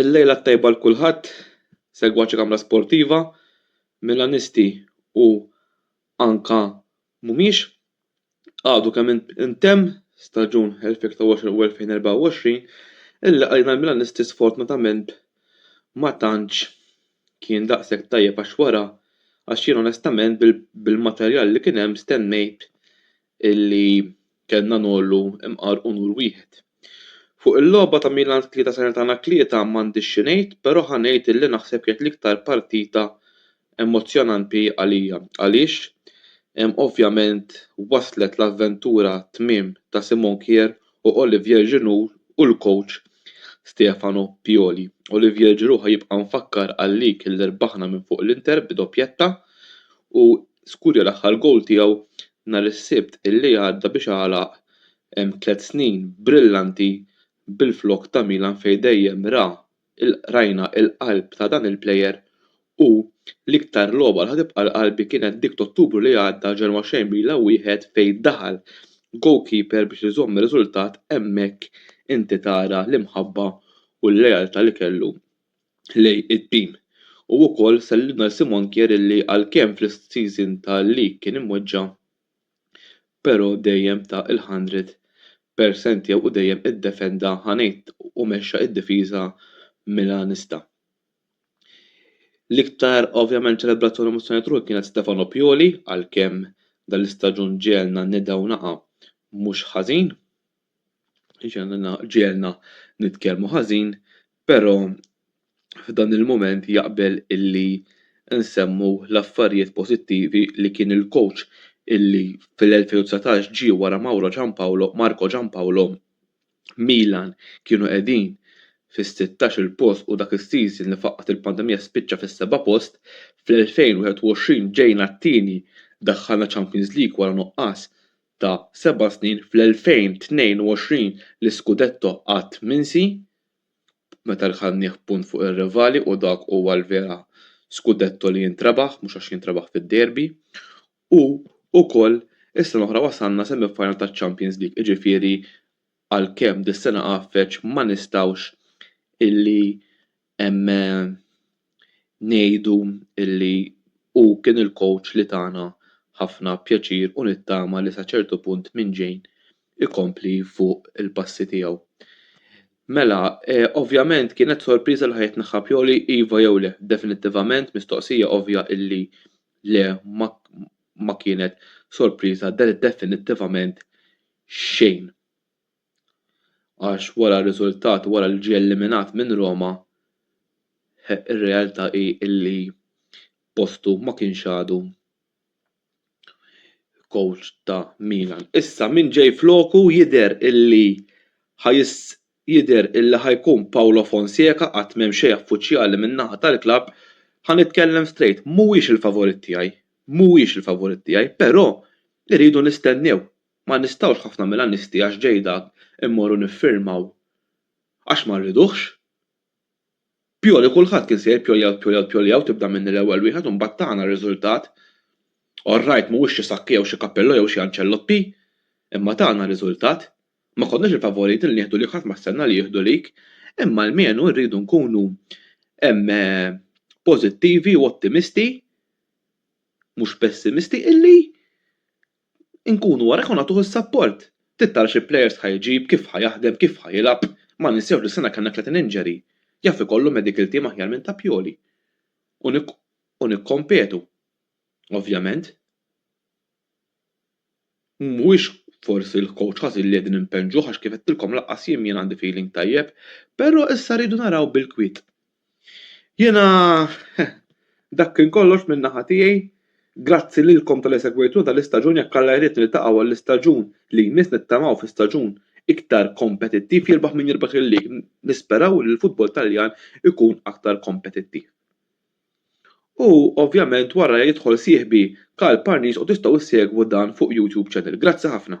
Il-lejla t-tajba l kulħadd, segwaċi kamra sportiva, Milanisti u anka mhumiex. Għadu kemm intemm staġun 2023 u 2024 illi għalina l-Milanisti sfortunatament ma tantx kien daqshekk tajjeb għax wara għax jien onestament bil-materjal li kien hemm stennejt illi kellna ngħollu mqar u nur wieħed. Fuq il-logħba ta' Milan tlieta Salernitana tlieta m'għandix xi ngħid, però ħa ngħid illi naħseb kienet l-iktar partita emozzjonanti għalija. Għaliex? Ovvjament waslet l-avventura tmiem ta' Simon Kjaer u Olivier Giroud u l-kowċ Stefano Pioli. Olivier Giroud ħa jibqa' mfakkar għal-lig li rbaħna minn fuq l-Inter bi doppjetta u skurja l-aħħar gowl tiegħu nhar is-Sibt illi għadda biex għalaq tliet snin brillanti bil-flokk ta' Milan fejn dejjem ra il-qrajna l-qalb ta' dan il-player u l-iktar logħba li ħa tibqa' l-qalbi kienet dik t'Ottubru li għadda ġewwa Xejmbil a wieħed fejn daħal goalkeeper biex iżomm ir-riżultat hemmhekk inti tara l-imħabba u l-lealtà li kellu lejn it-team u wkoll sellimna lil Simon Kjaer illi għalkemm fl-season tal-league kien imweġġa' pero dejjem ta il hundred per cent jew u dejjem iddefenda ha ngħid u mexxa id-difiża Milanista. L-iktar ovvjament ċelebrat tul emozzjonijiet ruħi kienet Stefano Pioli għalkemm dan l-istaġun ġegħelna nidgħu naqa mhux ħażin. Ġenna ġiegħelna nitkellmu ħażin, però f'dan il-mument jaqbel illi nsemmu l-affarijiet pożittivi li kien il-coach illi fl-2019 ġie wara Mauro Giampaolo, Marco Giampaolo, Milan kienu qegħdin fis-sittax-il post u dak is-season li faqqgħet il-pandemija spiċċa fis-seba' post, fl-2021 ġejna t-tieni, daħħalna Champions League wara nuqqas ta' seba' snin fl-2022 l-iskudetto għad minsi meta rkabnieh punt fuq ir-rivali u dak huwa l-vera skudetto li jintrebaħ mhux għax jintrebaħ fid-derby u wkoll is-sena l-oħra wasalna semi final taċ-Champions League jiġifieri għalkemm dis-sena għaffeġ ma nistgħux illi Hemm ngħidu li hu kien il-coach li tana ħafna pjaċir u nittama li sa ċertu punt minn ġejn ikompli fuq il-passi tiegħu. Mela, ovvjament kienet sorpriża li ħa jitneħħa Pioli, iva jew le? Definittivament mistoqsija ovvja li le ma kienet sorpriża definittivament xejn. Għax wara r-riżultat wara li ġie eliminat minn Roma r-realtà hi li postu ma kienx għadu coach ta' Milan. Issa min ġej floku jidher illi ħa jidher illi ħa jkun Paulo Fonseca għad m'hemm xejn affuċjali min-naħa tal-klabb. Ħa nitkellem straight, mhuwiex il-favorit tiegħi, mhuwiex il-favorit tiegħi, però irridu nistennew Ma nistgħux ħafna Milanisti għax ġej dak immorru niffirmaw għax ma rriduhx. Pioli kulħadd kien se jgħid Pioli out Pioli out Pioli out tibda minni l-ewwel wieħed u mbagħad tagħna r-riżultat. All right mhuwiex xi Sacchi jew xi Capello jew xi Ancelotti imma tagħna r-riżultat. Ma konniex il-favoriti li nieħdu lik ħadd ma stenna li jieħdu lik imma almenu rridu nkunu pożittivi u ottimisti mhux pessimisti illi Inkunu wara jkun għatuh is-sapport. Trid tara xi plejers ħa jġib, kif ħa jaħdem, kif ħa jilgħab. Ma ninsewx li s-sena kellna tletin injury. Jaf ikollu medical team aħjar minn ta' Pioli. U nikkompetu. Ovvjament. Mhuwiex forsi l-coach ħażin li qegħdin impenġuh għax kif għedtilkom lanqas jien mien għandi feeling tajjeb. Però issa rridu naraw bil-kwiet. Jiena dak kien kollox minn naħa tiegħi. Grazzi lilkom talli segwejtuna dal-istaġun jekk Alla jrid niltaqgħu għall-istaġun li jmiss nittamaw fi staġun iktar kompetittiv jirbaħ min jirbaħ il-league nisperaw li l-football Taljan ikun aktar kompetittiv. U ovvjament wara jidħol sieħbi Karl Parnis u tistgħu ssegwu dan fuq YouTube channel. Grazzi ħafna.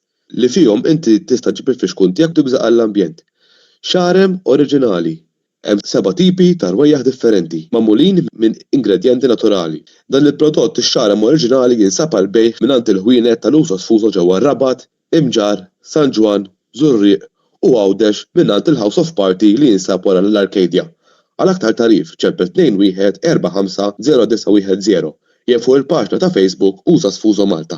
li fihom inti tista' ġġib il-fixkun tiegħek b'dik bżaqar l-ambjent. Xarem oriġinali, Hemm seba' tipi ta' rwejjaħ differenti, magħmulin minn ingredjenti naturali. Dan il-prodott ix-xarem oriġinali jinsab għall-bejgħ mingħand il-ħwienet tal-uso sfuso ġewwa r-Rabat, Imġarr, San Ġwann, Żurrieq u Għawdex mingħand il-House of Party li jinsab wara l-Arcadia. Għal aktar tagħrif ċempel 214509110 jew fuq il-paġna ta' Facebook Usa Sfuso Malta.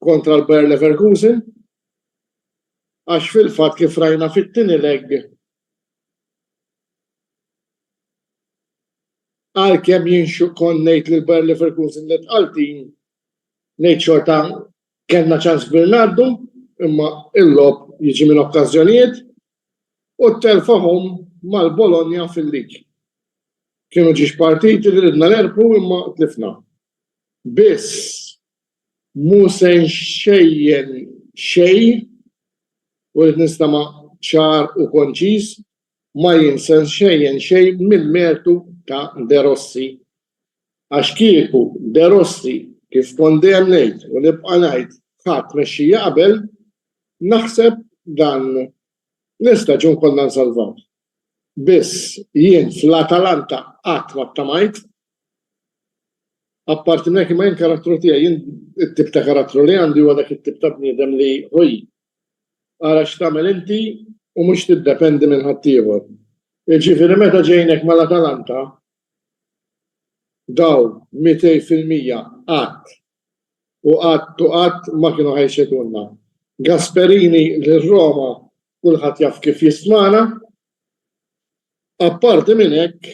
kontra l-Bayer Leverkusen għax fil-fatt kif rajna fit-tieni leg għalkemm jien xukon ngħid li l-Bayer Leverkusen li tqaltin ngħid xorta kellna ċans kbir ngħaddu imma il-lob jiġi minn okkażjonijiet u telfahom mal-Bologna fil-lig. Kienu ġiex partiti li ridna l-erbu imma tlifna. Biss Mhu se nxejjen xejn u rrid nistema' ċar u konċiż, ma jien se nxejjen xejn mill-mertu ta' De Rossi. Għax kieku De Rossi, kif kont dejjem ngħid u nibqa' ngħid, ħa tmexxija qabel, naħseb dan l-istaġun konna nsalvawh. Biss, jien fl-Atalanta qatt ma ttamajt Apparti minn hekk, imma jien karattru tiegħi, jien it-tip ta' karattru li għandi huwa dak it-tip ta' bniedem li, ħuj, ara x'tagħmel inti u mhux tiddependi minn ħaddieħor. Jiġifieri meta ġejnek mal-Atalanta, dawn mitej fil-mija qatt u qatt u qatt ma kienu ħa jċedulna. Gasperini lil Roma kulħadd jaf kif jistmana. Apparti minn hekk,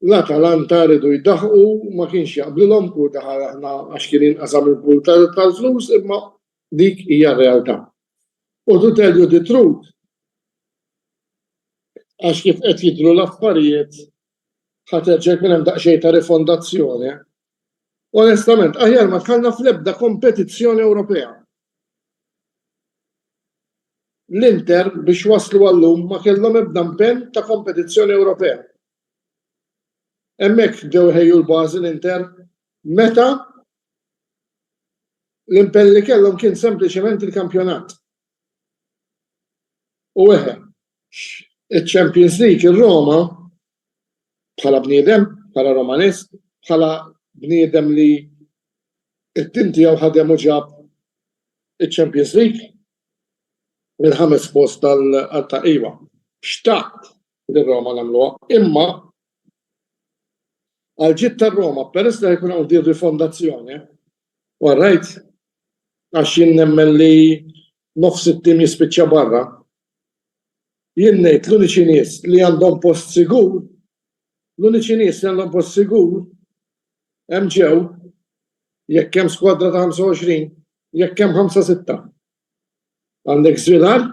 L-Atalanta riedu jdaħħqu, ma kienx jaqblilhom Pur daħal aħna għax kien jinqasa' minn Pur tal-flus imma dik hija r-realtà. U to tell you the truth għax kif qed jidhru l-affarijiet ħa terġa' jkun hemm daqsxejn ta' rifondazzjoni Onestament, aħjar ma dħalna fl-ebda kompetizzjoni Ewropea. L-Inter biex waslu għal-lum ma kellhom ebda impenn ta' kompetizzjoni Ewropea. Hemmhekk bdew iħejju l-bażi l-Inter meta l-impenn li kellhom kien sempliċement il-kampjonat. U eħe, Iċ-Champions League ir-Roma bħala bniedem, bħala Romanist, bħala bniedem li it-tim tiegħu ħadem u ġab iċ-Champions League mill-ħames post tal-taqqiwa. Xtaqt li Roma nagħmluha, imma għal ġid tar-Roma peress li jkun hawn dir rifondazzjoni, warrajt għax jien nemmen li nofs it-tim jispiċċa barra, Jien ngħid l-uniċi nies li għandhom post sigur, l-uniċi nies li għandhom post sigur hemm ġew, jekk hemm skwadra ta' 25, jekk hemm ħamsa sitta. Għandek Żvilar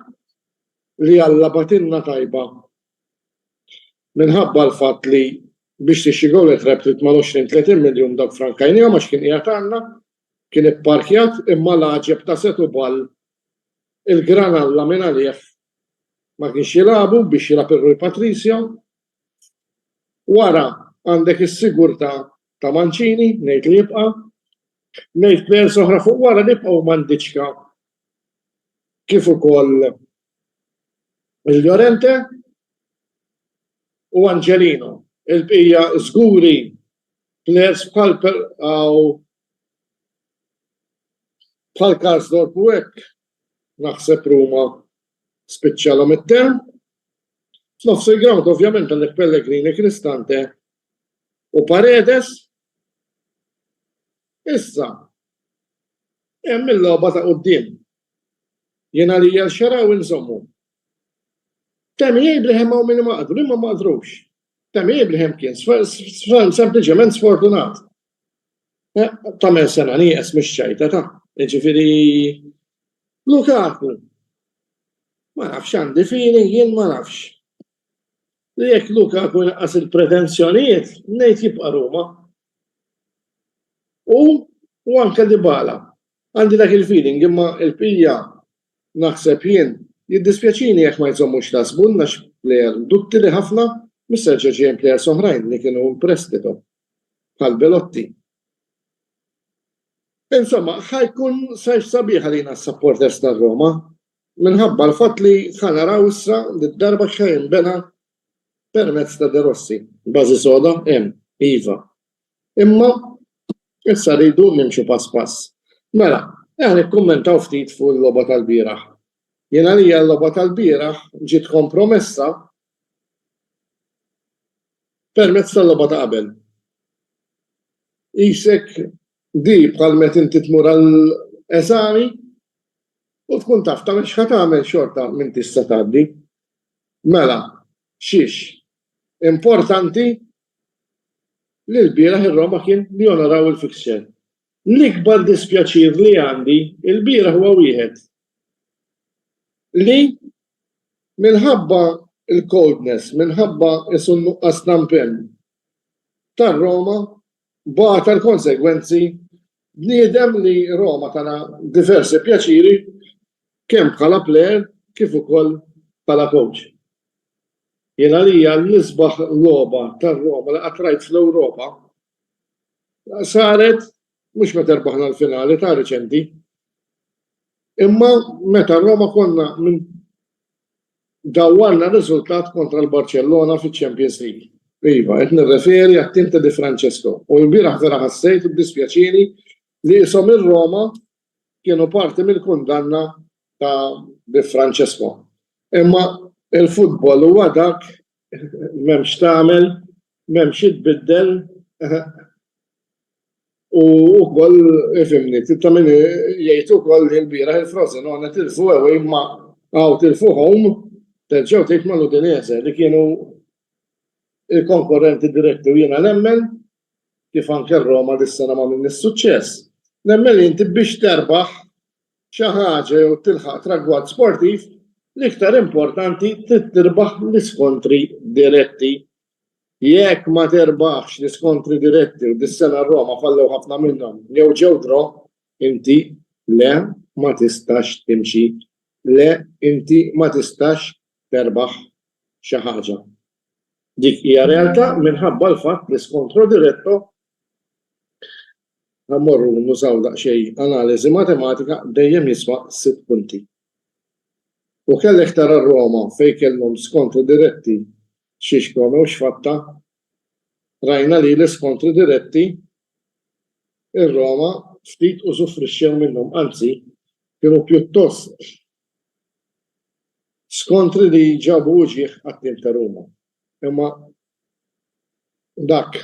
li Alla bagħtilna tajba minħabba l-fatt li biex tixtri Goal at Wrap trid mal-20, 30 miljun dawk frankajnihom għax kien qiegħed għandna, kien ipparkjat imma l-għaġeb ta' Setubal il-Granalla minn għalih ma kienx jilagħbu biex jilgħab ir-Rui Patricio. Wara għandek is-sigurtà ta' Mancini, ngħid li jibqa'. Ngħid plejers oħra fuq wara li jibqgħu huma Ndiċka kif ukoll il-Llorente u Angelino. Il-bqija żguri plejers bħal Bħal Karsdorp u hekk, naħseb Ruma spiċċalha mid-term. F'nofs il-ground ovvjament għandek Pellegrini, Cristante u Paredes. Issa, hemm il-logħba ta' quddiem. Jiena li jgħal xaraw inżommu. Temi Abraham għaw minni maqdu, li ma maqdrux. Temi Abraham kien sempliċement sfortunat. Eh, Tamer sena li jes mux ċajta ta' ġifiri Lukaku. Ma nafx għandi fili, jien ma nafx. Li jek Lukaku naqas il-pretenzjonijiet, nejt jibqa Ruma. U, u anka dibala. Għandi dak il-feeling imma il-pija naħseb jien jiddispjaċini jekk ma jżommux ta' sbunna x'plejer duttili ħafna mis-serġeġien plejer soħrajn li kienu prestito bħal Belotti. Insomma, ħajkun sajf sabiħ għalina s-supporters ta' Roma, minħabba l-fatt li ħanaraw issa li d-darba xejn bena permezz ta' De Rossi. Bażi soda hemm, iva. Imma issa rridu nimxu pass pass. Mela, eħ nikkummentaw ftit fuq il-logħba tal-bieraħ. Jien għalija l-logħba tal-bieraħ ġiet kompromessa Permezz tal-logħba ta' qabel. Qisek di bħal met inti tmur għal eżami u tkun taf tagħmel x'ħa tagħmel xorta m'intix se tgħaddi. Mela, xiex? Importanti li l-bieraħ ir-Roma kien li jonoraw il-fixture. L-ikbar dispjaċir li għandi il-bieraħ huwa wieħed li minħabba l-coldness, minħabba qisu n-nuqqas ta' mpenn tar-Roma, bata l-konsegwenzi bniedem li Roma tana diversi pjaċiri kemm bħala plejer kif ukoll bħala kowċ. Jien għalija l-isbaħ logħba tar-Roma li qatt rajt fl-Ewropa saret mhux meta rbaħna l-finali ta' riċenti. Imma meta Roma konna minn dawwarna riżultat kontra l-Barcellona fiċ-Champions League. Iva, qed nirreferi għat-tim ta' Di Francesco. U l-bieraħ vera ħassejt u dispjaċini li isom ir-Roma kienu parti mill-kundanna ta' Di Francesco. Imma il-futbol huwa dak Mem x'tagħmel, mem xi tbiddel. U wkoll ifimni, ta' min jgħid ukoll li l-bieraħ il-Frozen għona tilfu ewwel imma għaw tilfu home terġgħu tgħid ma' Udinese li kienu il-konkurrenti diretti u jiena nemmen kif anke Roma dis-sena ma' minn is-suċċess. Nemmen li inti biex terbaħ xi ħaġa jew tilħaq tragward sportiv, l-iktar importanti trid tirbaħ l-iskontri diretti. Jekk ma terbaħx l-iskontri diretti u dis-sena r-Roma fallew ħafna minnhom jew ġew draw, inti le ma tistax timxi, le inti ma tistax terbaħ xi ħaġa. Dik hija realtà minħabba l-fatt li skontro diretto Ħa mmorru nużaw daqsxejn analiżi matematika dejjem jiswa sitt punti. U kellek tara r-Roma fejn kellhom skontri diretti xiex promew x'fatta. Rajna li l-iskontri diretti ir-Roma ftit użufrixxew minnhom anzi kienu pjuttost skontri li ġabu uġigħ għat-tim ta' Ruma. Imma dak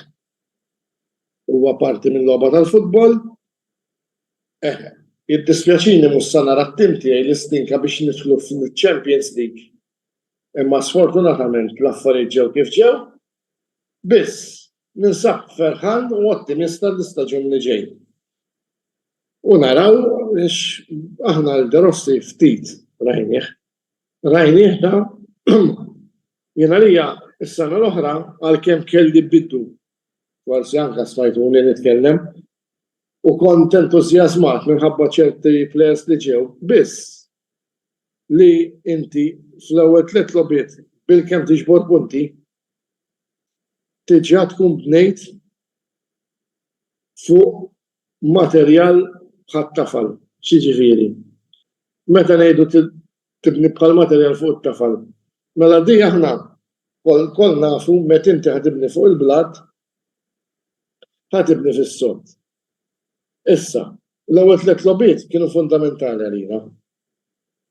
Huwa parti mil-logħba tal-futbol. Eħe. Jiddispjaċini mhux sa nara t-tim tiegħi li stinka biex nidħlu fil-Champions League. Imma sfortunatament l-affarijiet ġew kif ġew. Biss, ninsab ferħan u ottimista għall-istaġun li ġej. U naraw għax aħna l-De Rossi ftit rajnieh. Rajnieh dan? Jien għalija, is-sena l-oħra, għalkemm kelli bidu, forsi anke smajtuni nitkellem, u kont entużjażmat minħabba ċerti plejers li ġew, biss li inti fl-ewwel tliet logħbiet bilkemm tiġbor punti, diġà tkun bnejt fuq Materjal bħat-tafal, x'jiġifieri? Meta ngħidu tibni bħall-materjal fuq it-tafal, mela di aħna lkoll nafu meta inti ħa tibni fuq il-blat, ħa tibni fis-sod. Issa, l-ewwel tliet logħbiet kienu fundamentali għalina.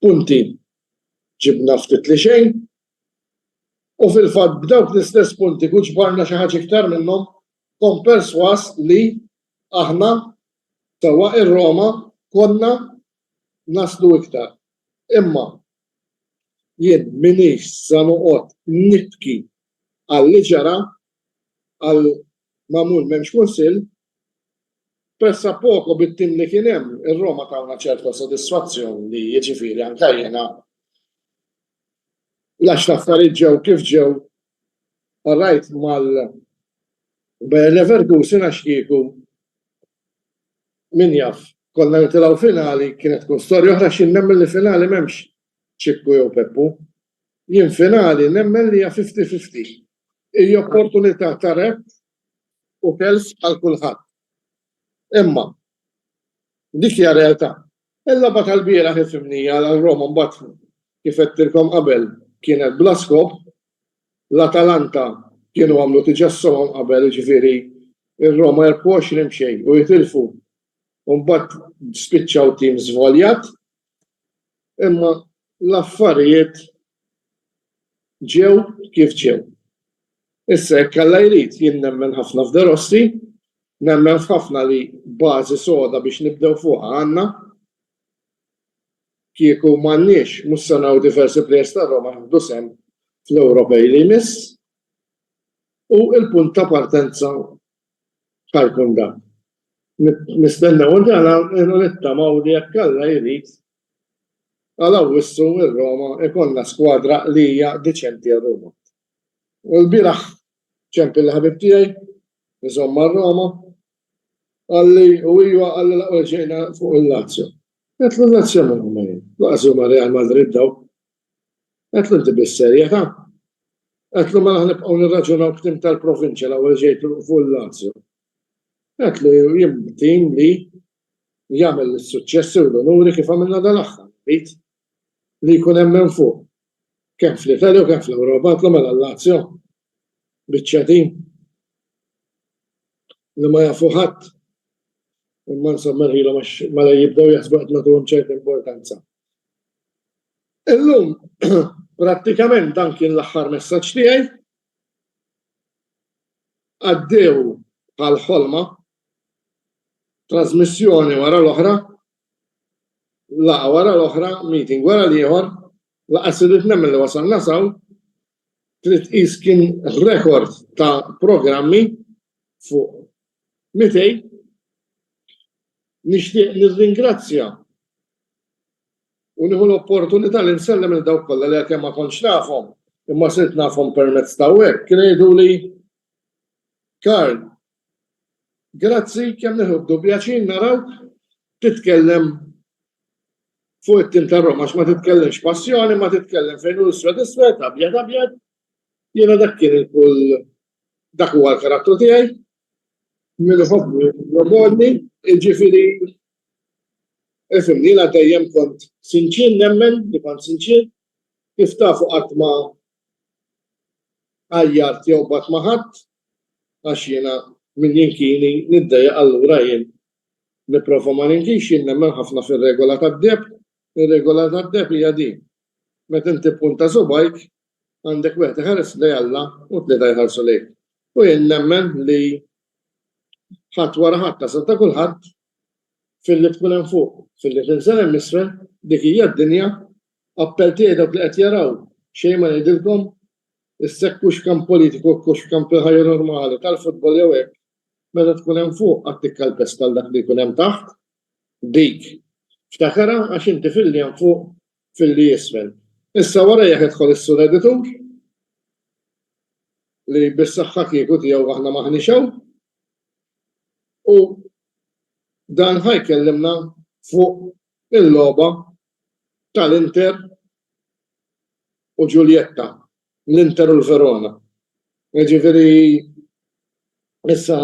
Punti ġibna ftit li xejn, U fil-fatt b'dawk l-istess punti kut ġbarna xi ħaġa iktar minnhom, kont persważ li aħna, sewwa ir-Roma, konna naslu iktar. Imma jien m'iniex sa noqgħod nibki għal li ġara, għal magħmul m'hemmx Kunsill, Pressa poco bit-tim li kien hemm, ir-Roma tawna ċerta sodisfazzjon li jiġifieri anke jiena l-għax l-affarijiet ġew kif ġew qrajt mal-Bayer Leverkusen għax kieku min jaf konna nitilgħu finali kienet tkun storja oħra x'jien nemmen li finali m'hemmx Ċikku jew Peppu. Jien finali nemmen li hija fifty fifty. Hi opportunità ta' rep u telf għal kulħadd. Imma dik hija realtà. Il-logħba tal-bieraħ ifhimni għal Roma mbagħad kif għedtilkom qabel kienet bla skop, l-Atalanta kienu għamlu tiġa s-somom qabel ġviri il-Roma 24 mxej u jitilfu un-bat spiċċaw tim zvoljat Imma l-affarijiet ġew kif ġew. Issa jekk Alla jrid jien nemmen ħafna f'De Rossi, nemmen f'ħafna li bażi soda biex nibdew fuqha għandna. Kieku m'għandniex mhux se naraw diversi plejers ta' Roma jieħdu sehem fl-Ewropej li jmiss. U l-punt ta' partenza ħarkun dan. Nistennew dan u nittamaw li jekk Alla jrid għal Awwissu ir-Roma ikollna skwadra li hija diċenti għal Roma. U l-bieraħ ċempil l-ħabib tiegħi, nżomm ma' Roma, għalli u ijwa għalli laqqa ġejna fuq il-Lazio. Għetlu Lazio ma' Roma jien, laqqa ma' Real Madrid daw, Għedtlu inti bis-serjetà? Għedtlu mela ħanibqgħu nirraġunaw b'tim tal-provinċja l-ewwel ġej fuq il-Lazio? Għedtlu jien b'tim li jagħmel is-suċċessi u l-unuri kif għamilna dal-aħħar, rrid li jkun hemm minn fuq, kemm fl-Italja u kemm fl-Ewropa, għedtlu mela l-Lazio, biċċa tim li ma jafu ħadd, imma insomma rħilhom għax mela jibdew jaħsbu qed nagħtuhom ċerta importanza. Illum prattikament dan kien l-aħħar messaġġ tiegħi. Għaddew bħal ħolma, trażmissjoni wara l-oħra, laqgħa wara l-oħra, meeting wara l-ieħor, laqas irrid nemmen li wasalna saw, trid tqis kien rekord ta' programmi fuq 200. Nixtieq nirringrazzja u nieħu l-opportunità li nsellem il dawk kollha li għalkemm ma kontx nafhom imma sirt nafhom permezz ta' web kien jgħiduli Karl Grazzi, kemm nieħdu pjaċir narawk titkellem fuq it-tim ta' Roma, ma titkellimx passjoni, ma titkellem fejn hu iswed iswed, abjad abjad. Jiena dak kien il-kull dak huwa l-karattru tiegħi. Min iħobbni jobgħodni, jiġifieri ifhimni jiena dejjem kont sinċier nemmen li kont sinċier, kif tafu qatt ma għajjart jew bgħadt ma' ħadd, għax jiena min jinkini niddejjaq allura jien nipprova ma ninkinx jien nemmen ħafna fir-regola tad-deheb ir-regola tad-deheb hija din meta inti ppunta subgħajk għandek wieħed iħares lejn Alla u tlieta jħarsu lejk u jien nemmen li ħadd wara ħadd tasal ta' kulħadd filli tkun hemm fuq filli tinżel hemm isfel dik hija d-dinja Appell tiegħi dawk li qed jaraw, xejn ma ngħidilkom, issekwu x'kan politiku u x'kan fil-ħajja normali, tal-futbol jew hekk, meta tkun hemm fuq għad tikkalpesta għal dak li jkun hemm taħt, dik, ftakarha għax inti filli hemm fuq, filli isfel. Issa wara jekk idħol is-sur editur, li bis-saħħa kieku tiegħu aħna m'aħniex hawn, u dan ħa jkellimna fuq il-logħba tal-Inter u Giulietta, l-Inter u l-Verona. Jiġifieri issa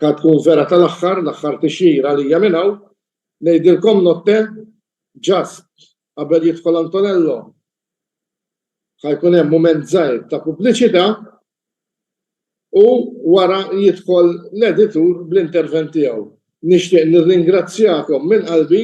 ħad tkun vera tal-aħħar, l-aħħar tixjir għalija minn hawn, ngħidilkom notte ġast qabel jidħol Antonello ħa jkun hemm mument żgħir ta' pubbliċità u wara jidħol l-editur bl-intervent tiegħu. Nixtieq nirringrazzjakom minn qalbi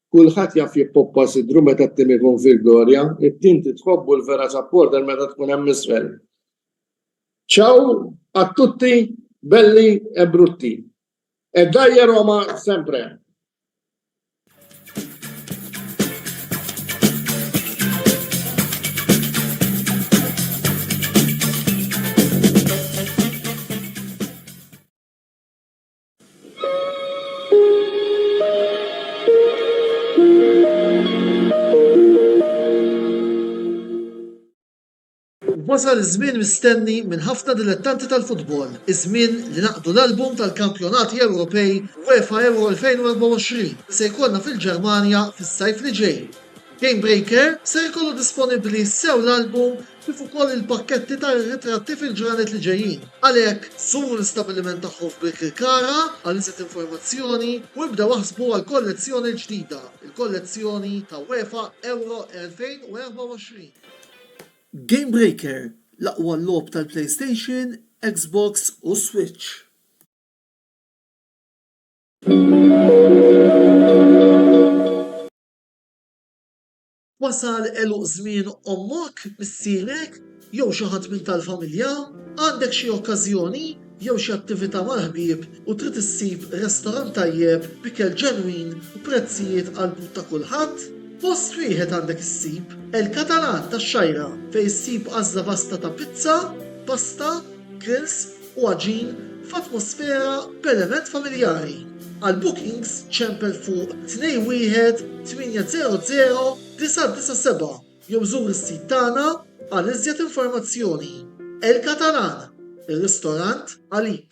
Kulħadd jaf jippoppa sidru meta t-tim ikun fil-glorja, it-tim titħobb u l-vera supporter meta tkun hemm isfel. Ciao a tutti belli e brutti. E dajje Roma sempre! Wasal iż-żmien mistenni minn ħafna dilettanti tal-futbol, iż-żmien li naqdu l-album tal-kampjonati Ewropej UEFA Euro 2024 li se jkollna fil-Ġermanja fis-sajf li ġej. Game Breaker ser ikollu disponibbli sew l-album kif ukoll il-pakketti ta' ritratti fil-ġranet li ġejjin. Għalhekk, żuru l-istabbiliment tagħhom f'Birkirkara għal iżjed informazzjoni u ibdew aħsbu għall-kollezzjoni l-ġdida, il-kollezzjoni ta' UEFA Euro 2024. Game Breaker, l-aqwa logħob tal-PlayStation, Xbox u Switch. Wasal għeluq żmien ommok, missierek, jew xi ħadd minn tal-familja? Għandek xi okkażjoni jew xi attività mal-ħbieb u trid issib restorant tajjeb b'ikel ġenwin u prezzijiet għall-but ta' kulħadd? Post wieħed għandek issib, El Catalan tax-Xgħajra, fejn issib għażla vasta ta' pizza, pasta, grills, u għaġin f'atmosfera b'element familjari. Għal bookings ċempel fuq 21800-997 jew żur is-sit tagħna għal iżjed informazzjoni. El Catalan, ir-ristorant għalik!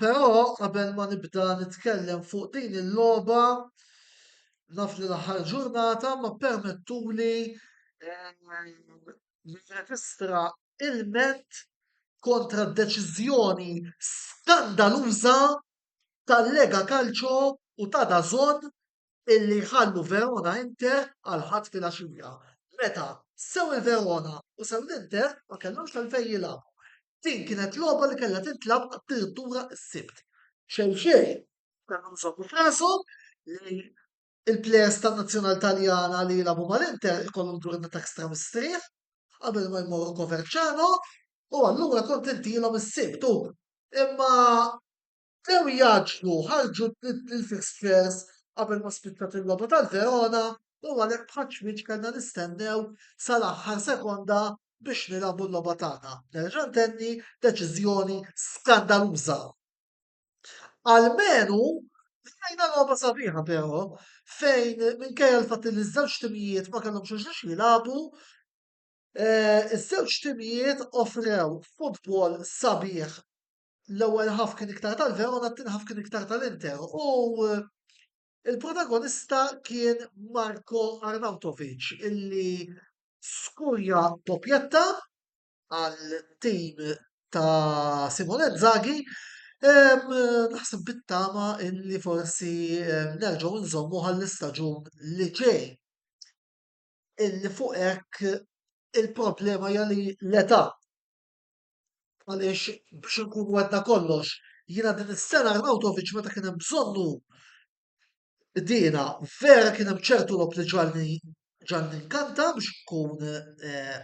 Però qabel ma nibda nitkellem fuq din il-logħba naf li l-aħħar ġurnata ma ppermettuli nirreġistra ilment kontra d-deċiżjoni skandaluża tal-Lega Calcio u ta' DAZN illi jħallu Verona Inter għal Ħadd filgħaxija, meta sew il-Verona u sew l-Inter ma kellhomx għalfejn jilagħbu. Din kienet logħba li kellha tintlagħab addirittura s-Sibt. Xejn xejn, kellhom iżommu f'rashom li l-plejers tan-Nazzjonal Taljana li jilagħbu mal-Inter ikollhom ġurnata ekstra mistrieħ qabel ma jmorru Coverciano u allura kont intilhom is-Sibt u imma Bdew jgħaġġlu, ħarġu t-tliet il-fixtures qabel ma spiċċat il-logħba tal-Verona u għalhekk bħal ċwieċ kellna nistennew sal-aħħar sekonda biex nilagħbu l-logħba tagħna. Nerġa' ntenni, deċiżjoni skandaluża. Almenu rajna logħba sabiħa però, fejn minkejja l-fatt li ż-żewġ timijiet ma kellhomx xiex jilagħbu, eh, iż-żewġ timijiet offrew futbol sabiħ l-ewwel ħaf kien iktar tal-Verona, t-tieni ħaf kien iktar tal-Inter u eh, il-protagonista kien Marko Arnautovic illi skurja doppjetta għal tim ta' Simone Zaghi naħseb bittama illi forsi nerġgħu nżommu għall-istaġun li ġej. Illi fuq hekk il-problema jali l-età. Għaliex biex nkunu għedna kollox, jiena din is-sena Arnautovic meta kien hemm bżonnu bdiena vera kien hemm ċertu lob li ġalni ġalni nkanta biex nkun eh,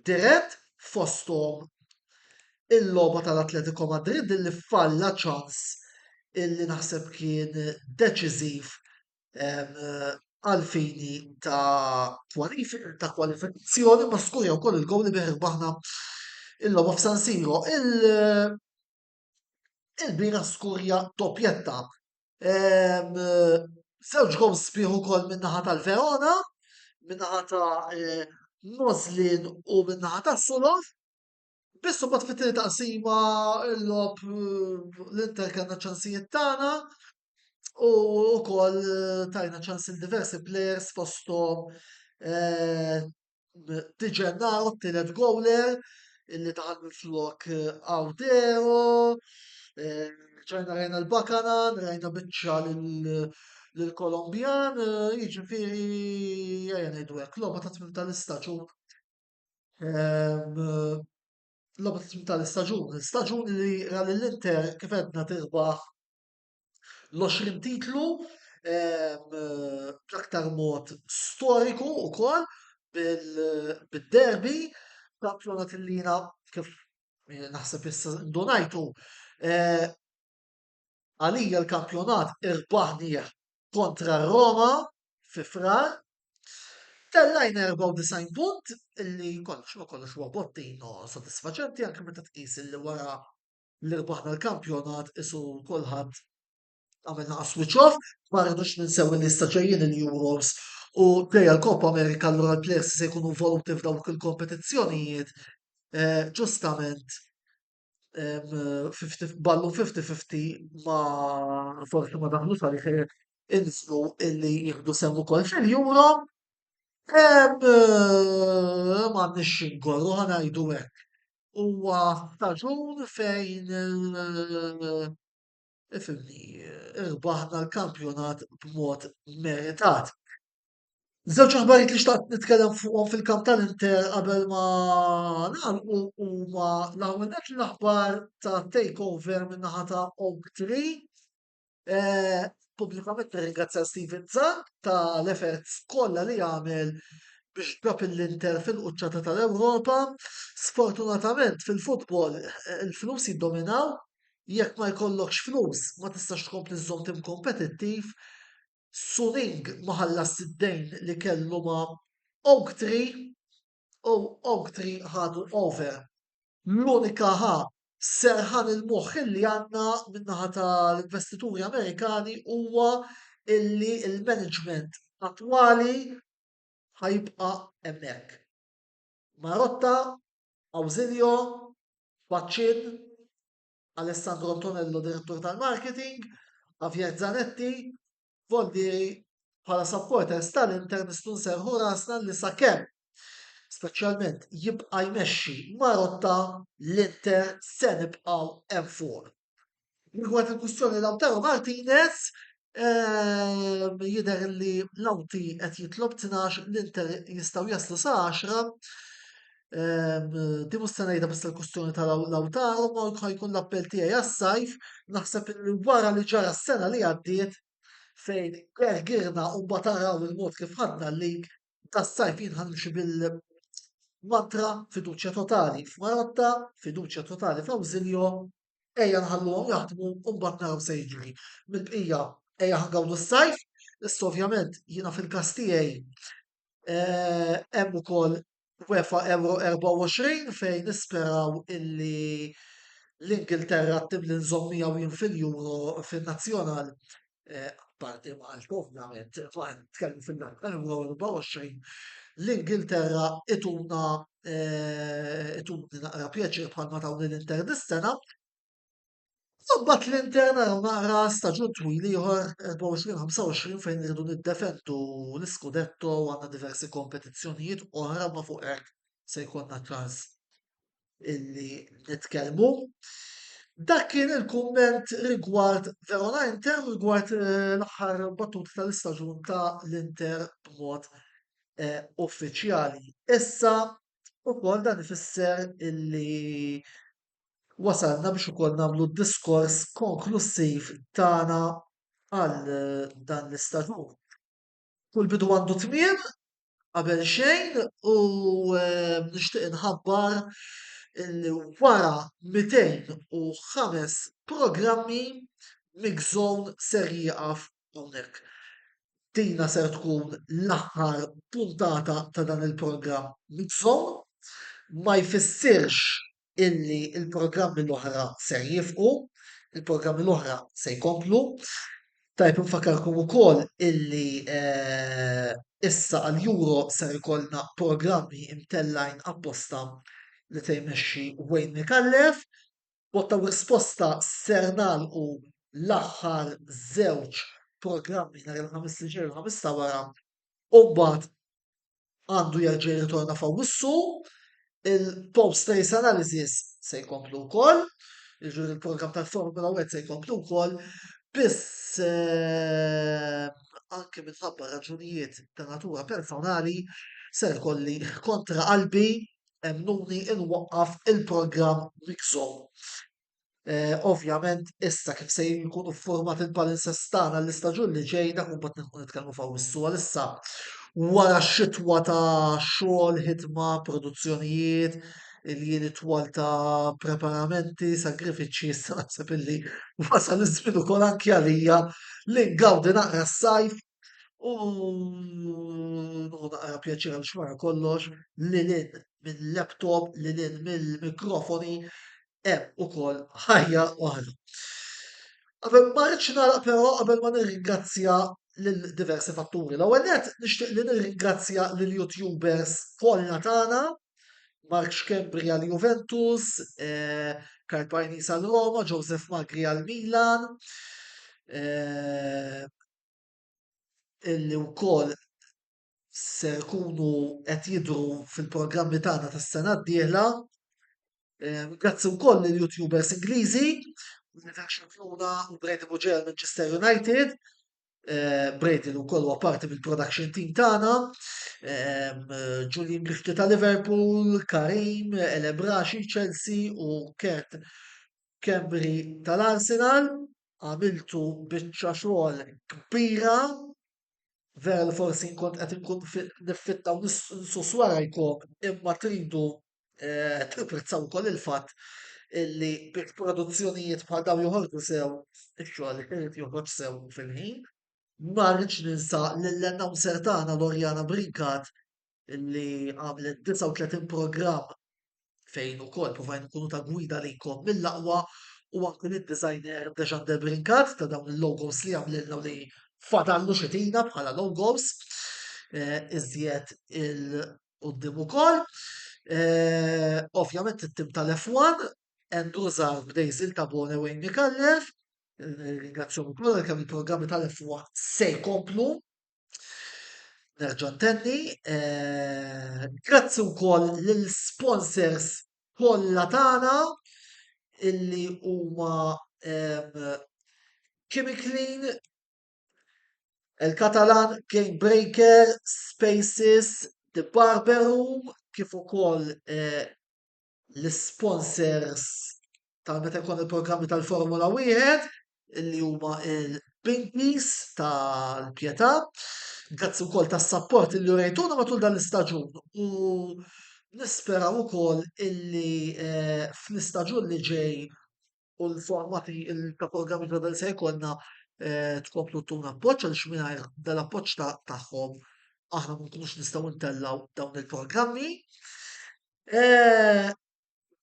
dirett fosthom il-logħba tal-Atletico Madrid li falla ċans illi naħseb kien deċiżiv għal fini ta' ta' kwalifikazzjoni ma skurja wkoll il-gowl li bih baħna il-logħba f'San Siro. Il-bira skurja toppjetta. Żewġ gowl sbieħ ukoll min-naħa tal-Verona, min-naħa ta' eh, Moslin u min-naħa ta' Sulov. Biss imbagħad fit-tieni taqsima l-lob l-Inter kellna ċansijiet tagħna u wkoll tajna ċans il diversi players fosthom eh, Tiġennaw t-tielet goaler illi daħal minn flok Awdero, eh, ċajna rajna l-Bakana, rajna biċċa l-Kolombjan, eh, jiġifieri jgħajna id-dwek, l-logħba ta' tmim tal-istaġun Ehm, l-optim tal-istaġun, l-istaġun li ra l-Inter kif għedna tirbaħ l-20 titlu ehm, bl-aktar mod storiku u kol bil-derbi kampjonat il-lina kif eh, naħseb issa ndunajtu eh, Għalija l-kampjonat irbaħnieh kontra r-Roma fi Frar. Tellajna 94 punt illi kollox ma kollox huwa bottino sodisfaċenti anke meta tqis illi wara li rbaħna l-kampjonat isu kulħadd għamilna switch off, ma rridux ninsew li issa ġejjin il-Euros u dejja l-Coppa Amerika allura l-players se jkunu involuti f'dawk il-kompetizzjonijiet eh, ġustament ballu 50-50 ma forsi ma daħlu sali xejn inslu illi jieħdu sehem ukoll fil-Euro. Ma nix ngorru ħanajdu hekk. Huwa staġun fejn ifimni irbaħna l-kampjonat b'mod meritat. Żewġ aħbarijiet li xtaqt nitkellem fuqhom fil-kamp tal-Inter qabel ma nagħlqu huma l-ewwel nett l-aħbar ta' takeover min-naħa ta' Oak Tree. Eh, pubblikament nirringrazzja Steven Zan tal-efforts kollha li għamel biex ġab l-Inter fil-quċċata tal-Ewropa. Sfortunatament fil-futbol eh, il-flus jiddominaw, jekk ma jkollokx flus ma tistax tkompli żżomm tim kompetittiv Suning ma ħallasx id-dejn li kellu ma' Oaktree u Oaktree ħadu over. L-unika ħa serħan il-moħħ illi għandna min-naħa tal-investituri Amerikani huwa illi l-management attwali ħa jibqa' hemmhekk. Marotta, Ausilio, Baccin, Alessandro Antonello Direttur tal-Marketing, Javier Zanetti, Voldieri bħala supporters tal-Inter nistgħu nserħu rasna li sakemm speċjalment jibqa' jmexxi Marotta l-Inter se nibqgħu hemm fuq. Rigward il-kwistjoni Lautaro Martinez, Ehm, jidher li l-awti qed jitlob 12 l-Inter jistgħu jaslu sa 10. Ehm, di mhux se ngħidha biss il-kustjoni tal-awtaru ma jkun l-appell tiegħi għas-sajf naħseb li wara li ġara s-sena li għaddiet fejn gergirna u bataraw il-mod kif ħadna l-lig tas-sajf jinħanx bil mantra fiduċja totali f'Marotta, fiduċja totali f'Awżiljo, Ejja nħalluhom jaħdmu u mbagħad naraw se jiġri. Mill-bqija ejja ħangawdu s-sajf, issa ovvjament jiena fil-każ tiegħi eh, hemm ukoll UEFA Euro 24 fejn nisperaw illi l-Ingilterra tim li nżommija u jien fil-Euro fin-nazzjonal parti Malta ovvjament, ma nitkellmu fin-naħa tal-24, l-Ingilterra ituna ituni naqra pjaċir bħalma tawni l-Inter dis-sena. Sabbat l-Inter naraw naqra staġun twil ieħor 24-25 fejn irridu niddefendu l-Scudetto għandna diversi kompetizzjonijiet oħra ma fuq hekk se jkollna ċans illi nitkellmu. Dak kien il-kumment rigward Verona Inter rigward eh, l-aħħar battut tal-istaġun ta' l-Inter b'mod eh, uffiċjali. Issa ukoll dan ifisser illi wasalna biex ukoll nagħmlu diskors konklussiv tagħna għal eh, dan l-istaġun. Kull bidu għandu tmiem, qabel xejn u nixtieq inħabbar li wara 205 programmi Mixzone ser jieqaf hawnhekk. Dina ser tkun l-aħħar puntata ta' dan il-programm Mixzone. Ma jfissirx illi l-programmi l-oħra ser jifqu, il-programmi l-oħra se jkomplu. Tajb nfakkarkom ukoll illi eh, issa għal Euro ser ikollna programmi imtellajn apposta li se jmexxi Wayne Mikallef. Botta risposta ser nagħlqu l-aħħar żewġ programmi nhar il-ħamis li ġej il-ħamis ta' wara u mbagħad għandu jerġa' jirritorna f'Awwissu, il-post race analysis se jkomplu wkoll, jiġifieri il-programm tal-Formula 1 se jkomplu wkoll, biss eh, anke minħabba raġunijiet ta' natura personali ser kolli kontra qalbi emnuni inwaqqaf il-programm miksom. Ovvjament issa kif se jkunu ffurmati l-balances tagħna għall-istaġun li ġej dak imbagħad nidħlu nitkellmu f'Awwissu għalissa wara xitwa ta' xogħol, ħidma, produzzjonijiet, il-jiem itwal ta' preparamenti, sagrifiċċji, issa naħseb illi wasal iż-żmien ukoll anki għalija li ngawdi naqra s-sajf u naqra pjaċir għal xmara kollox li lin mill-laptop, li lin mill-mikrofoni hemm ukoll ħajja oħra. Qabel ma rridx nagħlaq però qabel ma nirringrazzja lil diversi fatturi. L-ewwel nett nixtieq li nirringrazzja lil YouTubers kollha tagħna, Mark Schembri għal Juventus, eh, Karl Pajnis għal Roma, Joseph Magri għal Milan, eh, illi wkoll se jkunu qed jidhru fil-programmi tagħna tas-sena d-dieħla. Eh, grazzi wkoll lil youtubers Ingliżi, Universal Flora u Brady Buġer Manchester United. Eh, Brady u kollu parti mill-production team tagħna, eh, Julian Grifti ta' Liverpool, Karim, Elebraxi, Chelsea u Kurt Kembri tal-Arsenal. Għamiltu biċċa xogħol kbira Vera li forsi nkun qed inkun niffitta u nsus warajkom imma tridu eh, tapprezzaw ukoll il-fatt li biex produzzjonijiet bħal dawn joħorġu sew, ix-xogħol irid joħroġ sew fil-ħin. Ma rridx ninsa lill-announcer tagħna Lorjana Brincat li għamlet 39 programm fejn ukoll provajn nkunu ta' gwida lejkom mill-aqwa u anke lid-designer Dejan De Brincat ta' dawn il-logos li għamlilna li fadallu xitina bħala logos eh, iżjed il-qoddim ukoll. Eh, ovvjament it-tim tal-F1, Andrew Zar b'Dejzil ta' Bone Wayne Mikallef, ringrazzjoni kollha kemm il-programmi tal-F1 se jkomplu Nerġa' ntenni, eh, grazzi wkoll lill-sponsors kollha tagħna illi huma Chemiclean, eh, il-Catalan Game Breaker, Spaces, The Barber Room, kif ukoll eh, l-isponsers ta' meta jkun il-programmi tal-Formula Wieħed li huma il-Pinkies tal-Pjetà. Grazzi wkoll tas-sapport li rejtuna matul dan l-istaġun u nisperaw ukoll illi eh, fl-istaġun li ġej u l-forma ta' programmi ta' dan se jkollna eh, tkomplu tuna appoġġ għal xminajr dal-appoġġ tagħhom aħna ma nkunux nistgħu ntellaw dawn il-programmi. Eh,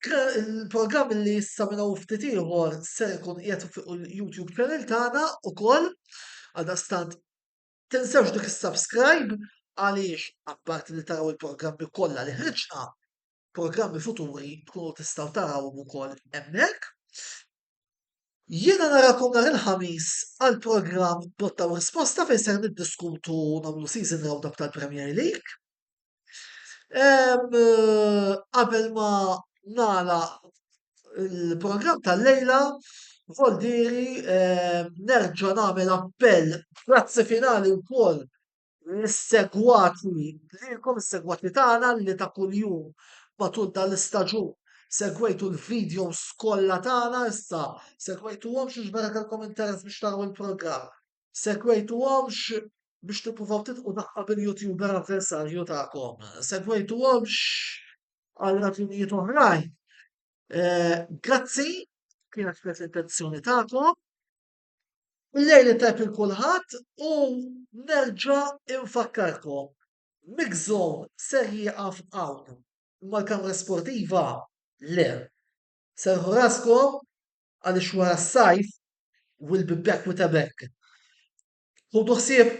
il-programm li issa minna ftit ieħor se jkun qiegħed fuq il-YouTube channel tagħna ukoll għal stant tinsewx dik is-subscribe għaliex apparti li taraw il-programmi kollha li ħriġna programmi futuri tkunu tistgħu tarawhom ukoll hemmhekk. Jiena narakom nhar il-ħamis għal programm botta u risposta fejn ser niddiskutu nagħmlu season roundup tal-Premier League. Qabel ma nala il-programm tal-lejla, Voldiri nerġa' nagħmel appell grazzi finali wkoll l-segwatni lilkom, is-segwatni tagħna li ta' kuljum matul dan l-istaġun segwejtu l-videos kollha tagħna issa, segwejtuhomx biex meta kellkom interess biex taraw il-programm, segwejtuhomx biex tippruvaw titqu taqqa' bil-YouTuber avversarju tagħkom, segwejtuhomx għal raġunijiet oħrajn. Eh, grazzi, kienet kienet l-intenzjoni tagħkom. Lejli tajb il kulħadd u nerġa infakkarkom Mix Zone ser jieqaf hawn imma l-kamra sportiva le. Serrħu raskom għaliex wara s-sajf we'll be back with a bang. Ħudu ħsieb!